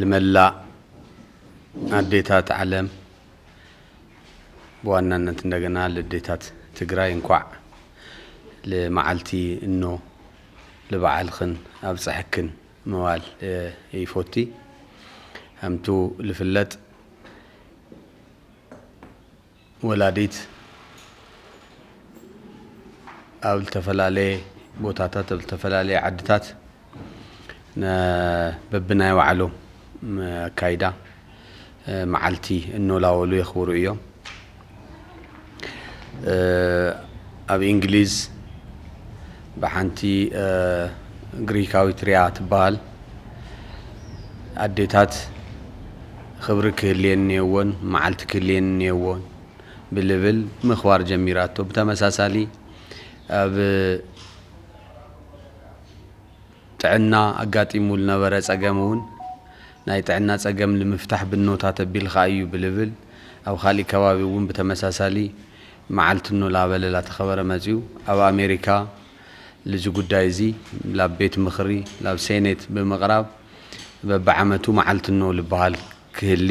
ልመላእ ኣዴታት ዓለም ብዋናነት እንደገና ልዴታት ትግራይ እንኳዕ ልመዓልቲ እኖ ልበዓልክን ኣብፀሐክን ምባል ይፎቲ። ከምቱ ልፍለጥ ወላዲት ኣብ ዝተፈላለየ ቦታታት ኣብ ዝተፈላለየ ዓድታት በብናይ ባዕሎም ኣካይዳ መዓልቲ እኖላወሉ የኽብሩ እዮም ኣብ እንግሊዝ ብሓንቲ ግሪካዊት ርያ ትበሃል ኣዴታት ኽብሪ ክህልየን እኔዎን መዓልቲ ክህልየን እኔዎን ብልብል ምኽባር ጀሚራቶ። ብተመሳሳሊ ኣብ ጥዕና ኣጋጢሙ ልነበረ ጸገም እውን ናይ ጥዕና ጸገም ልምፍታሕ ብኖታት ኣቢልካ እዩ ብልብል ኣብ ኻሊእ ከባቢ እውን ብተመሳሳሊ መዓልቲ ን ላበለ ላተኸበረ መጺኡ ኣብ ኣሜሪካ ልዚ ጉዳይ እዚ ላብ ቤት ምኽሪ ላብ ሴኔት ብምቕራብ በብዓመቱ መዓልቲ ን ልበሃል ክህሊ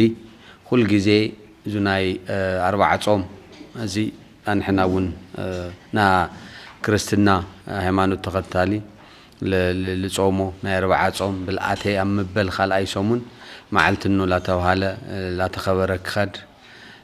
ኹል ግዜ እዙ ናይ ኣርባዓ ጾም እዚ ኣንሕና እውን ና ክርስትና ሃይማኖት ተኸታሊ ልጾሞ ናይ ኣርባዓ ጾም ብልኣተይ ኣብ ምበል ኻልኣይ ሰሙን መዓልቲ ን ላተብሃለ ላተኸበረ ክኸድ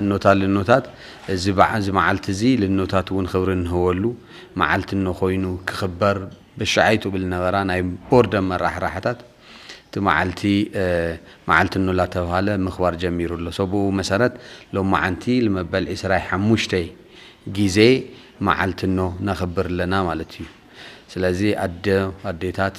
እኖታት ልኖታት እዚ በዓ እዚ መዓልቲ እዚ ልኖታት እውን ኽብሪ እንህበሉ መዓልቲ እኖ ኮይኑ ክኽበር በሻዓይቱ ብል ነበራ ናይ ቦርድ ኣመራሕራሕታት እቲ መዓልቲ መዓልቲ እኖ ላተብሃለ ምኽባር ጀሚሩ ኣሎ ሶ ብኡ መሰረት ሎማዓንቲ ልመበል ዕስራይ ሓሙሽተይ ጊዜ መዓልቲ እኖ ነኽብር ኣለና ማለት እዩ ስለዚ ኣደ ኣዴታት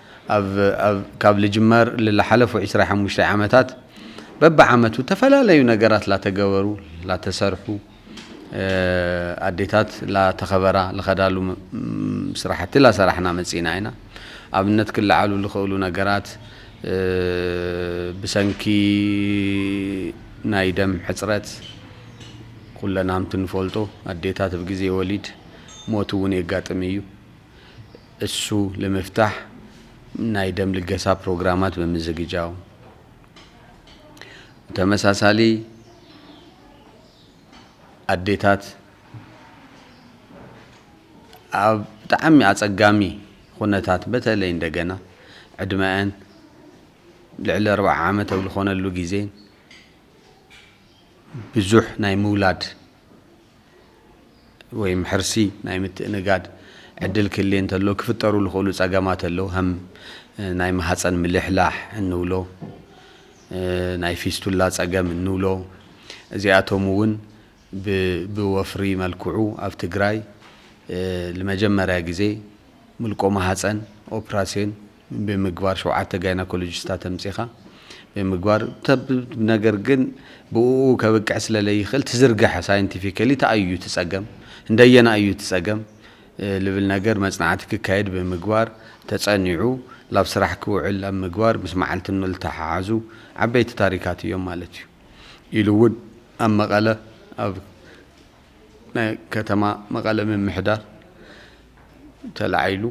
ኣብ ካብ ልጅመር ልላሓለፉ ዕስራ ሓሙሽተ ዓመታት በብዓመቱ ተፈላለዩ ነገራት ላተገበሩ ላተሰርሑ ኣዴታት ላተኸበራ ልኸዳሉ ስራሕቲ ላሰራሕና መፂእና ኢና። ኣብነት ክለዓሉ ልኸእሉ ነገራት ብሰንኪ ናይ ደም ሕፅረት ኹለናምቲ ንፈልጦ ኣዴታት ብግዜ ወሊድ ሞት እውን የጋጥም እዩ። እሱ ልምፍታሕ ናይ ደም ልገሳ ፕሮግራማት ብምዝግጃው፣ ብተመሳሳሊ ኣዴታት ኣብ ብጣዕሚ ኣጸጋሚ ኹነታት በተለይ እንደገና ዕድመኣን ልዕሊ ኣርብዓ ዓመት ኣብ ልኾነሉ ግዜ ብዙሕ ናይ ምውላድ ወይም ሕርሲ ናይ ምትእንጋድ ዕድል ክህልዬ እንተሎ ክፍጠሩ ዝኽእሉ ጸገማት ኣለዉ። ከም ናይ ማህጸን ምልሕላሕ እንብሎ ናይ ፊስቱላ ጸገም እንብሎ እዚኣቶም እውን ብወፍሪ መልክዑ ኣብ ትግራይ ንመጀመርያ ግዜ ምልቆ ማህጸን ኦፕራሲዮን ብምግባር ሸውዓተ ጋይናኮሎጂስታት ኣምጺኻ ብምግባር ተብ ነገር ግን ብኡኡ ከብቅዕ ስለ ለይኽእል ትዝርግሐ ሳይንቲፊካሊ ተኣይ እዩ ትጸገም እንደየና እዩ ትጸገም ልብል ነገር መጽናዕቲ ክካየድ ብምግባር ተጸኒዑ ላብ ስራሕ ክውዕል ኣብ ምግባር ምስ መዓልቲ ንልተሓሓዙ ዓበይቲ ታሪካት እዮም ማለት እዩ። ኢሉ እውን ኣብ መቐለ ኣብ ናይ ከተማ መቐለ ምምሕዳር ተላዒሉ።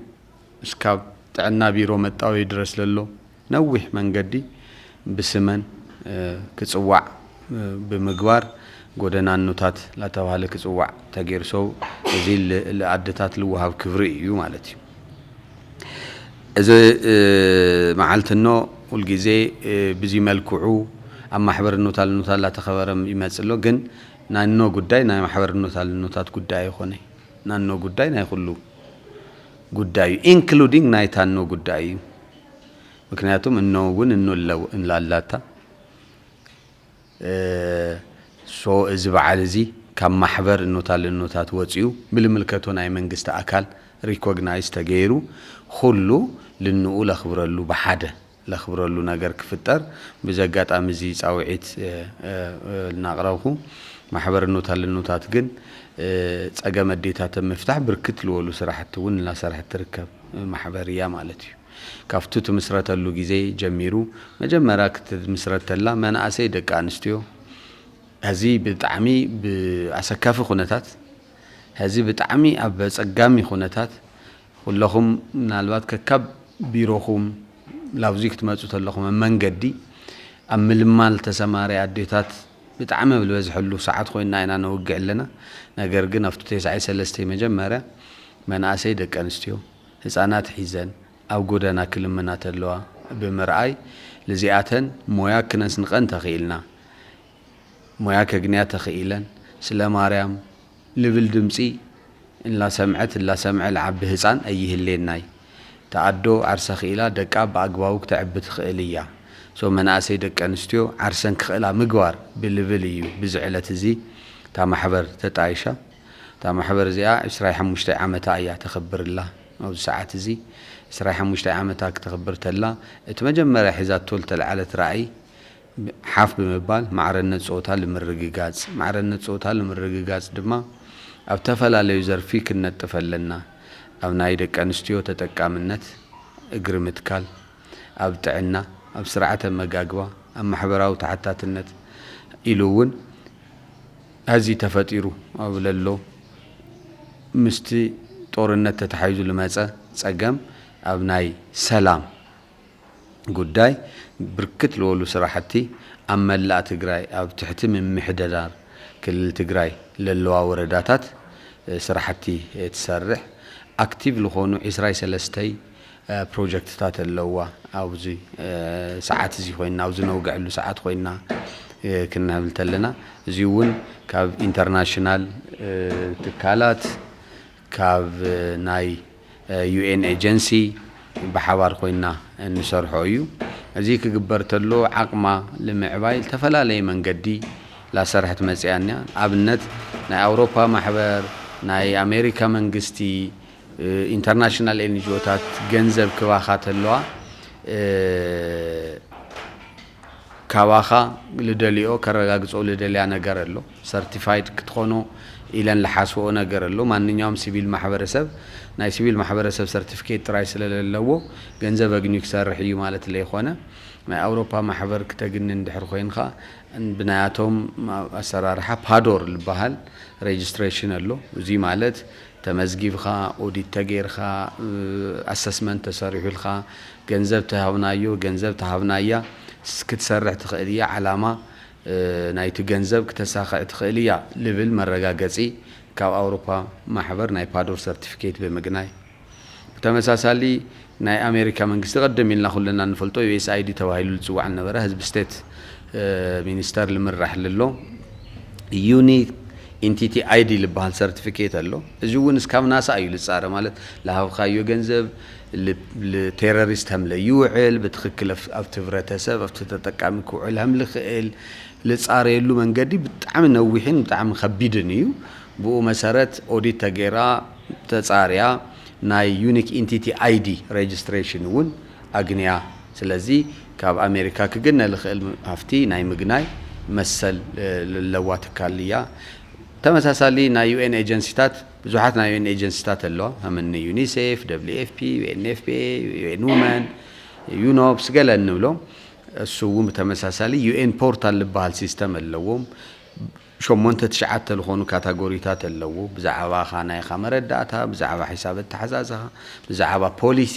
እስካብ ጥዕና ቢሮ መጣወ ይድረስ ለሎ ነዊሕ መንገዲ ብስመን ክፅዋዕ ብምግባር ጎደናኖታት ላተብሃለ ክፅዋዕ ተገይሩ ሰው እዚ ልኣደታት ልወሃብ ክብሪ እዩ ማለት እዩ እዚ መዓልቲ እኖ ሁልጊዜ ብዚ መልክዑ ኣብ ማሕበር እኖታ ልኖታት ላተከበረ ይመፅ ኣሎ ግን ናይ እኖ ጉዳይ ናይ ማሕበር እኖታ ልኖታት ጉዳይ ኣይኮነይ ናይ እኖ ጉዳይ ናይ ኩሉ ጉዳዩ ኢንክሉዲንግ ናይታ እኖ ጉዳይ እዩ ምክንያቱም እኖ እውን እኖ ላላታ ሶ እዚ በዓል እዚ ካብ ማሕበር እኖታ ልእኖታት ወፅኡ ብልምልከቶ ናይ መንግስቲ ኣካል ሪኮግናይዝ ተገይሩ ኩሉ ልንኡ ለኽብረሉ ብሓደ ለኽብረሉ ነገር ክፍጠር ብዚ ኣጋጣሚ እዚ ፃውዒት ልናቕረብኹ። ማሕበር እኖት ኣለኖታት ግን ፀገም ኣዴታት ኣብ ምፍታሕ ብርክት ልወሉ ስራሕቲ እውን እናሰርሐት ትርከብ ማሕበር እያ ማለት እዩ። ካፍቱ ትምስረተሉ ግዜ ጀሚሩ መጀመርያ ክትምስረት ተላ መናእሰይ ደቂ ኣንስትዮ ሀዚ ብጣዕሚ ብኣሰካፊ ኩነታት ሀዚ ብጣዕሚ ኣብ ኣፀጋሚ ኩነታት ኩለኹም ምናልባት ከካብ ቢሮኹም ላብዙይ ክትመጹ ተለኹም ኣብ መንገዲ ኣብ ምልማል ተሰማሪ ኣዴታት ብጣዕሚ ኣብ ልበዝሐሉ ሰዓት ኮይና ኢና ነውግዕ ኣለና ነገር ግን ኣብቱ ቴስዓይ ሰለስተይ መጀመርያ መናእሰይ ደቂ ኣንስትዮ ህጻናት ሒዘን ኣብ ጎደና ክልምና ተለዋ ብምርኣይ ልዚኣተን ሞያ ክነስንቀን ተኺኢልና ሞያ ከግንያ ተኺኢለን ስለ ማርያም ልብል ድምጺ እላሰምዐት እላሰምዐ ልዓቢ ህጻን ኣይህሌናይ እታ ኣዶ ዓርሳ ክኢላ ደቃ ብኣግባቡ ክተዕቢ ትክእል እያ so መናእሰይ ደቂ ኣንስትዮ ዓርሰን ክክእላ ምግባር ብልብል እዩ ብዚ ዕለት እዚ እታ ማሕበር ተጣይሻ እታ ማሕበር እዚኣ ዕስራይ ሓሙሽተይ ዓመታ እያ ተክብር እላ ኣብዚ ሰዓት እዚ ዕስራይ ሓሙሽተይ ዓመታ ክተክብር ተላ እቲ መጀመርያ ሒዛቶ ልተልዓለት ራእይ ሓፍ ብምባል ማዕረነት ፆታ ልምርግጋፅ። ማዕረነት ፆታ ልምርግጋፅ ድማ ኣብ ተፈላለዩ ዘርፊ ክንነጥፍ ኣለና። ኣብ ናይ ደቂ ኣንስትዮ ተጠቃምነት፣ እግሪ ምትካል፣ ኣብ ጥዕና፣ ኣብ ስርዓተ ኣመጋግባ፣ ኣብ ማሕበራዊ ተሓታትነት ኢሉ እውን ሀዚ ተፈጢሩ ኣብ ለሎ ምስቲ ጦርነት ተተሓሒዙ ልመፀ ፀገም ኣብ ናይ ሰላም ጉዳይ ብርክት ልበሉ ስራሕቲ ኣብ መላእ ትግራይ ኣብ ትሕቲ ምምሕደዳር ክልል ትግራይ ለለዋ ወረዳታት ስራሕቲ ትሰርሕ ኣክቲቭ ልኾኑ ዕስራይ ሰለስተይ ፕሮጀክትታት ኣለዋ ኣብዚ ሰዓት እዚ ኮይና ኣብዚ ነውግዐሉ ሰዓት ኮይና ክንህብል ተለና እዚ እውን ካብ ኢንተርናሽናል ትካላት ካብ ናይ UN ኤጀንሲ ብሓባር ኮይና እንሰርሖ እዩ። እዚ ክግበር ተሎ ዓቕማ ልምዕባይ ልተፈላለየ መንገዲ ላሰርሐት መጺኣ እኒያ። ኣብነት ናይ ኣውሮፓ ማሕበር፣ ናይ ኣሜሪካ መንግስቲ፣ ኢንተርናሽናል ኤንጅኦታት ገንዘብ ክባኻ ተለዋ ካባኻ ልደልኦ ከረጋግጾ ልደልያ ነገር ኣሎ። ሰርቲፋይድ ክትኾኑ ኢለን ልሓስብኦ ነገር ኣሎ። ማንኛውም ሲቪል ማሕበረሰብ ናይ ሲቪል ማሕበረሰብ ሰርቲፊኬት ጥራይ ስለ ለለዎ ገንዘብ ኣግንዩ ክሰርሕ እዩ ማለት ለይኾነ ናይ ኣውሮፓ ማሕበር ክተግኒ እንድሕር ኾይንኻ ብናያቶም ኣሰራርሓ ፓዶር ልበሃል ሬጅስትሬሽን ኣሎ። እዙይ ማለት ተመዝጊብኻ ኦዲት ተገይርኻ ኣሰስመንት ተሰሪሑልካ ገንዘብ ተሃብናዮ ገንዘብ ተሃብናያ ክትሰርሕ ትኽእል እያ። ዓላማ ናይቲ ገንዘብ ክተሳኽዕ ትኽእል እያ ልብል መረጋገጺ ካብ ኣውሮፓ ማሕበር ናይ ፓዶር ሰርቲፊኬት ብምግናይ ብተመሳሳሊ ናይ ኣሜሪካ መንግስቲ ቀደም ኢልና ኩልና እንፈልጦ USAID ተባሂሉ ልጽዋዕ ልነበረ ህዝቢ ስቴት ሚኒስተር ልምራሕ ልሎ ዩኒ ኢንቲቲ ኣይዲ ልበሃል ሰርቲፊኬት ኣሎ እዚ እውን እስካብ ናሳ እዩ ልፃረ ማለት ልሃብካዮ ገንዘብ ል ቴረሪስት ሀም ለይውዕል ብትክክል ኣብቲ ህብረተሰብ ኣብቲ ተጠቃሚ ክውዕል ሀም ልክእል ልፃረየሉ መንገዲ ብጣዕሚ ነዊሕን ብጣዕሚ ከቢድን እዩ። ብኡ መሰረት ኦዲት ተገይራ ተፃርያ ናይ ዩኒክ ኢንቲቲ ኣይዲ ሬጅስትሬሽን እውን ኣግንያ። ስለዚ ካብ ኣሜሪካ ክግነ ልክእል ሃፍቲ ናይ ምግናይ መሰል ለለዋ ትካል እያ። ተመሳሳሊ ናይ ዩኤን ኤጀንሲታት ብዙሓት ናይ ዩኤን ኤጀንሲታት ኣለዋ፣ ከም እኒ ዩኒሴፍ፣ ደብሊው ኤፍ ፒ፣ ዩኤንኤፍፒኤ፣ ዩኤን ውመን፣ ዩኖፕስ ገለ እንብሎ። እሱ እውን ብተመሳሳሊ ዩኤን ፖርታል ልበሃል ሲስተም ኣለዎ። ሸሞንተ ትሽዓተ ልኾኑ ካታጎሪታት ኣለዉ፣ ብዛዕባኻ ናይኻ መረዳእታ፣ ብዛዕባ ሒሳብ ኣተሓዛዝኻ፣ ብዛዕባ ፖሊሲ፣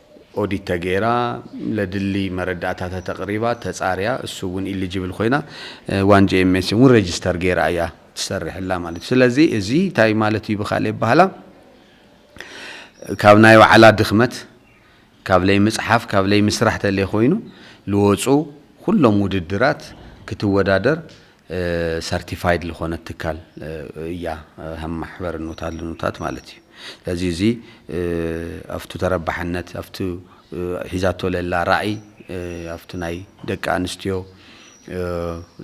ኦዲት ተገይራ ለድሊ መረዳእታታት ኣቕሪባ ተጻርያ እሱ እውን ኢሊጅብል ኮይና ዋን ጂኤምኤስ እውን ረጅስተር ገይራ እያ ትሰርሕላ ማለት እዩ ስለዚ እዚ እንታይ ማለት እዩ ብካልእ ኣባህላ ካብ ናይ ባዕላ ድኽመት ካብ ለይምጽሓፍ ካብ ለይምስራሕ ተለይኮይኑ ልወጹ ኩሎም ውድድራት ክትወዳደር ሰርቲፋይድ ልኾነት ትካል እያ ሃም ማሕበር ኑታት ልኑታት ማለት እዩ ስለዚ እዚ ኣፍቱ ተረባሕነት ኣፍቱ ሒዛቶ ለላ ራኢ ኣፍቱ ናይ ደቂ ኣንስትዮ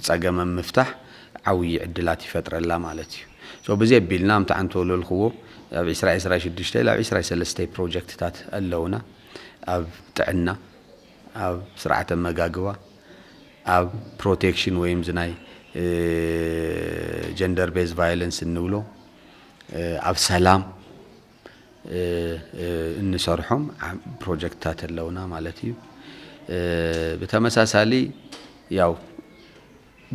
ጸገም ኣብ ምፍታሕ ዓውዪ ዕድላት ይፈጥረላ ማለት እዩ so ብዚ ኣቢልና ኣምቲ ዓንተ ወለልክዎ ኣብ ዒስራይ ዒስራይ ሽዱሽተይ ላብ ዒስራይ ሰለስተይ ፕሮጀክትታት ኣለውና ኣብ ጥዕና ኣብ ስርዓተ ኣመጋግባ ኣብ ፕሮቴክሽን ወይም እዚ ናይ ጀንደር ቤዝ ቫዮለንስ እንብሎ ኣብ ሰላም እንሰርሖም ፕሮጀክትታት ኣለውና ማለት እዩ ብተመሳሳሊ ያው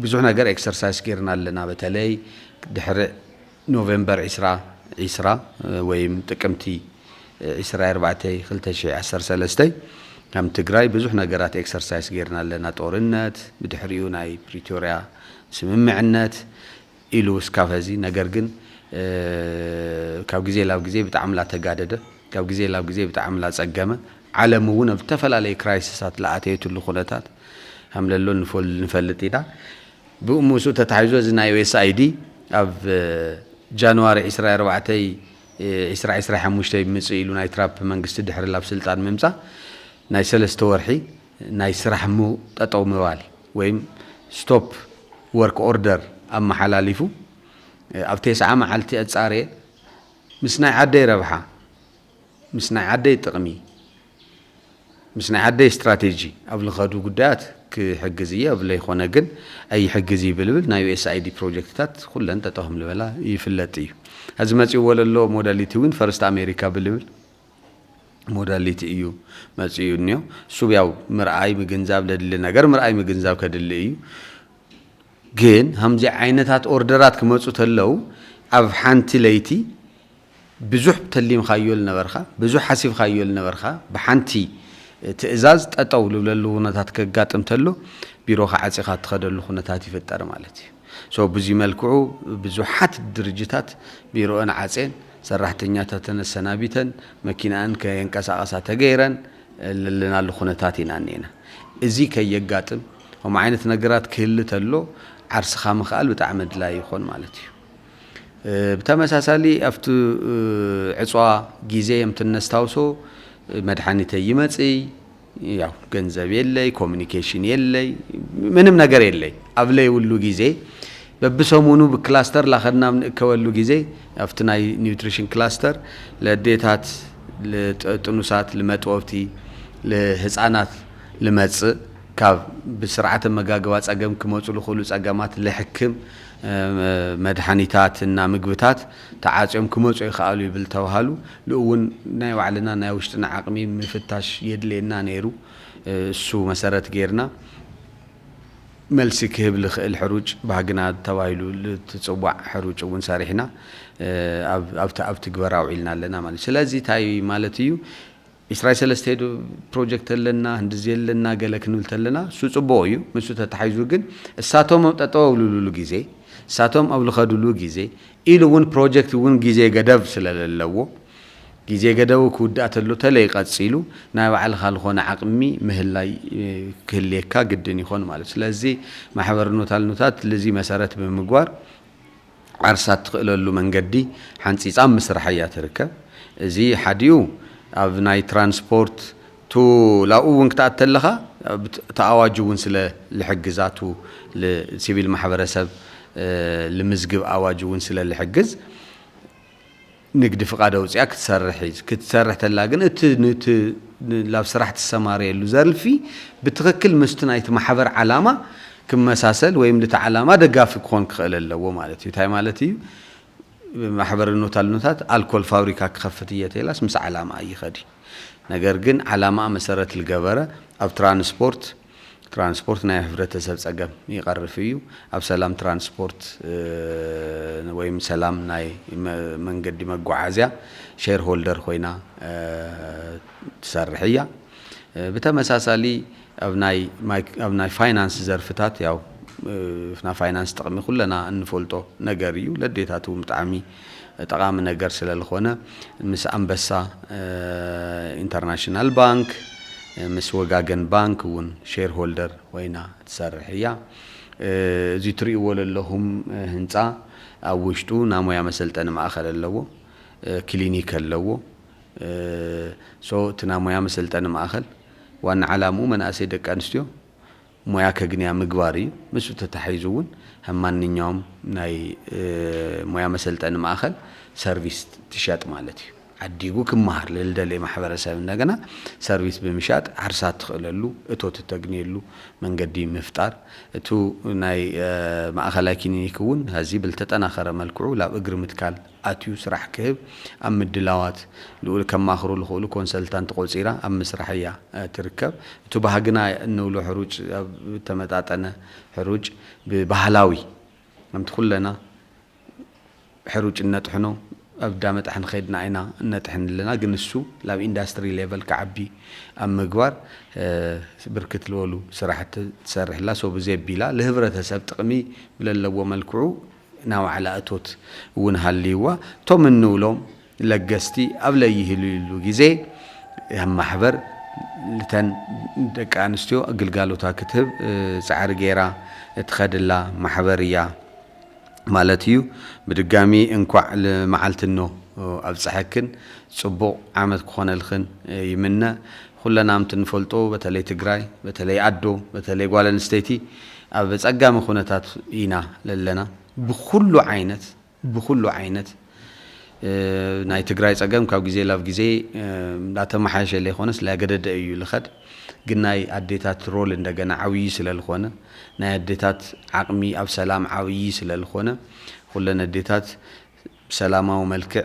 ብዙሕ ነገር ኤክሰርሳይስ ጌርና ኣለና በተለይ ድሕሪ ኖቨምበር ዕስራ ዕስራ ወይም ጥቅምቲ ዕስራይ ኣርባዕተይ ክልተ ሽሕ ዓሰርተ ሰለስተ ከም ትግራይ ብዙሕ ነገራት ኤክሰርሳይስ ገይርና ኣለና ጦርነት ብድሕሪኡ ናይ ፕሪቶርያ ስምምዕነት ኢሉ እስካብ ሀዚ ነገር ግን ካብ ግዜ ላብ ግዜ ብጣዕሚ ላተጋደደ ካብ ግዜ ላብ ግዜ ብጣዕሚ ላፀገመ ዓለም እውን ኣብ ዝተፈላለዩ ክራይስሳት ላኣተየትሉ ኩነታት ከምለሎ ንፈልጥ ኢና ብኡ ምስኡ ተታሒዞ እዚ ናይ USAID ኣብ ጃንዋሪ ዕስራይ ኣርባዕተይ ዕስራ ዕስራይ ሓሙሽተ ብምጽእ ኢሉ ናይ ትራፕ መንግስቲ ድሕሪ ላብ ስልጣን ምምጻእ ናይ ሰለስተ ወርሒ ናይ ስራሕ ም ጠጠው ምባል ወይም Stop Work Order ኣመሓላሊፉ ኣብ ቴስዓ መዓልቲ ኣጻርየ ምስ ናይ ዓደይ ረብሓ ምስ ናይ ዓደይ ጥቕሚ፣ ምስ ናይ ዓደይ ስትራቴጂ ኣብ ልኸዱ ጉዳያት ክሕግዝ እየ ኣብ ለይኾነ ግን ኣይሕግዝ እይ ብልብል ናይ USAID ፕሮጀክትታት ኩለን ጠጠው ከም ልበላ ይፍለጥ እዩ። ሀዚ መፂኡዎ ለሎ ሞዳሊቲ እውን ፈርስት ኣሜሪካ ብልብል ሞዳሊቲ እዩ መፂኡ እንዮ። እሱብ ያው ምርኣይ ምግንዛብ ለድሊ ነገር ምርኣይ ምግንዛብ ከድሊ እዩ። ግን ሀምዚ ዓይነታት ኦርደራት ክመፁ ተለው ኣብ ሓንቲ ለይቲ ብዙሕ ተሊምካዮ ልነበርካ፣ ብዙሕ ሓሲብካዮ ልነበርካ ብሓንቲ ትእዛዝ ጠጠው ልብለሉ ውነታት ከጋጥም ተሎ ቢሮኻ ዓፂኻ ትኸደሉ ኩነታት ይፍጠር ማለት እዩ። So ብዙይ መልክዑ ብዙሓት ድርጅታት ቢሮእን ዓፄን ሰራሕተኛታተን ኣሰናቢተን መኪናእን ከየንቀሳቐሳ ተገይረን ለለናሉ ኩነታት ኢና እኒኤና። እዙይ ከየጋጥም ከምኡ ዓይነት ነገራት ክህሊ ተሎ ዓርስኻ ምኽኣል ብጣዕሚ ኣድላይ ይኾን ማለት እዩ። ብተመሳሳሊ ኣብቲ ዕፅዋ ጊዜ የምት እነስታውሶ መድሓኒተይ ይመፅይ ያው ገንዘብ የለይ ኮሚኒኬሽን የለይ ምንም ነገር የለይ ኣብ ለይብሉ ጊዜ በብሰሙኑ ብክላስተር ላኸድና ኣብ ንእከበሉ ጊዜ ኣብቲ ናይ ኒውትሪሽን ክላስተር ለዴታት ጥኑሳት ልመጥወብቲ ልህፃናት ልመፅእ ካብ ብስርዓተ መጋግባ ፀገም ክመፁ ልኽእሉ ፀገማት ልሕክም መድሓኒታት እና ምግብታት ተዓፅዮም ክመፁ ኣይኸኣሉ ይብል ተብሃሉ ልኡውን ናይ ባዕልና ናይ ውሽጥና ዓቕሚ ምፍታሽ የድልየና ነይሩ እሱ መሰረት ገይርና መልሲ ክህብ ልኽእል ሕሩጭ ባህግና ተባሂሉ ልትፅዋዕ ሕሩጭ እውን ሰሪሕና ኣብ ትግበራ ኣውዒልና ኣለና ማለት እዩ ስለዚ ታይ ማለት እዩ ዒስራይ ሰለስተይ ዶ ፕሮጀክት ኣለና ህንድዚ ኣለና ገለ ክንብል ተለና እሱ ጽቡቁ እዩ ምሱ ተታሒዙ ግን እሳቶም ኣብ ጠጠው ኣብልሉሉ ግዜ እሳቶም ኣብ ልኸዱሉ ግዜ ኢሉ እውን ፕሮጀክት እውን ግዜ ገደብ ስለለለዎ ግዜ ገደቡ ክውዳእ ተሎ ተለይ ቀጺሉ ናይ ባዕልኻ ልኾነ ዓቅሚ ምህላይ ክህልየካ ግድን ይኾን ማለት ስለዚ ማሕበር ኖታልኖታት ልዚ መሰረት ብምግባር ዓርሳ እትኽእለሉ መንገዲ ሓንፂፃ ኣብ ምስራሕ እያ ትርከብ። እዚ ሓዲኡ ኣብ ናይ ትራንስፖርት ቱ ላኡ እውን ክትኣት ተለኻ እቲ ኣዋጅ እውን ስለ ልሕግዛ ቱ ልሲቪል ማሕበረሰብ ልምዝግብ ኣዋጅ እውን ስለ ልሕግዝ። ንግዲ ፍቃድ ኣውጺኣ ክትሰርሕ እይ ክትሰርሕ ተላ ግን እቲ ንቲ ላብ ስራሕ ትሰማረየሉ ዘርፊ ብትክክል ምስቲ ናይቲ ማሕበር ዓላማ ክመሳሰል ወይም ልቲ ዓላማ ደጋፊ ክኮን ክክእል ኣለዎ ማለት እዩ ታይ ማለት እዩ ማሕበር ኖታልኖታት ኣልኮል ፋብሪካ ክከፍት እየ ተይላስ ምስ ዓላማኣ ይከድ እዩ ነገር ግን ዓላማኣ መሰረት ልገበረ ኣብ ትራንስፖርት ትራንስፖርት ናይ ህብረተሰብ ፀገም ይቐርፍ እዩ። ኣብ ሰላም ትራንስፖርት ወይም ሰላም ናይ መንገዲ መጓዓዝያ ሼር ሆልደር ኮይና ትሰርሕ እያ። ብተመሳሳሊ ኣብ ናይ ኣብ ናይ ፋይናንስ ዘርፍታት ያው ናይ ፋይናንስ ጥቕሚ ኩለና እንፈልጦ ነገር እዩ ለዴታትውን ብጣዕሚ ጠቓሚ ነገር ስለልኾነ ምስ ኣንበሳ ኢንተርናሽናል ባንክ ምስ ወጋገን ባንክ እውን ሼር ሆልደር ኮይና ትሰርሕ እያ። እዚ ትሪእዎ ለለኹም ህንፃ ኣብ ውሽጡ ናሞያ መሰልጠኒ ማእኸል ኣለዎ። ክሊኒክ ኣለዎ። እቲ ናሞያ መሰልጠኒ ማእኸል ዋና ዓላምኡ መናእሰይ ደቂ ኣንስትዮ ሞያ ከግንያ ምግባር እዩ። ምስኡ ተታሒዙ እውን ከም ማንኛውም ናይ ሞያ መሰልጠኒ ማእኸል ሰርቪስ ትሸጥ ማለት እዩ። ዓዲጉ ክመሃር ልልደልየ ማሕበረሰብ እንደገና ሰርቪስ ብምሻጥ ዓርሳ እትኽእለሉ እቶት እተግንየሉ መንገዲ ምፍጣር። እቱ ናይ ማእኸላይ ክሊኒክ እውን ሀዚ ብልተጠናኸረ መልክዑ ላብ እግሪ ምትካል። ኣትዩ ስራሕ ክህብ ኣብ ምድላዋት ልኡል ከማኽሩ ልኽእሉ ኮንሰልታንት ቆጺራ ኣብ ምስራሕ እያ ትርከብ። እቱ ባህግና እንብሎ ሕሩጭ ኣብ ተመጣጠነ ሕሩጭ ብባህላዊ ከምቲ ኩለና ሕሩጭ እነጥሕኖ ኣብ እዳ መጥሐኒ ከድና ኢና እነጥሕን ኣለና ግን እሱ ላብ ኢንዳስትሪ ሌቨል ክዓቢ ኣብ ምግባር ብርክት ልበሉ ስራሕቲ ትሰርሕ እላ ሶ ብዘይ ኣቢላ ልህብረተሰብ ጥቅሚ ብለለዎ መልክዑ ናይ ዋዕላ እቶት እውን ሃልይዋ እቶም እንብሎም ለገስቲ ኣብ ለይህልይሉ ግዜ እያ ማሕበር ልተን ደቂ ኣንስትዮ ግልጋሎታ ክትህብ ጻዕሪ ገይራ እትኸድላ ማሕበር እያ ማለት እዩ። ብድጋሚ እንኳዕ ልመዓልቲ እኖ ኣብጸሐክን ጽቡቕ ዓመት ክኾነልኽን ይምነ። ኹለና ምት ንፈልጦ በተለይ ትግራይ በተለይ ኣዶ በተለይ ጓል ኣንስተይቲ ኣብ ፀጋሚ ኹነታት ኢና ለለና ብኹሉ ዓይነት ብኹሉ ዓይነት ናይ ትግራይ ፀገም ካብ ግዜ ላብ ግዜ ላተማሓየሸ ለይኾነስ ላገደደ እዩ ልኸድ ግን ናይ ኣዴታት ሮል እንደገና ዓብዪ ስለልኾነ ናይ ኣዴታት ዓቕሚ ኣብ ሰላም ዓብዪ ስለልኾነ ኹለን ኣዴታት ብሰላማዊ መልክዕ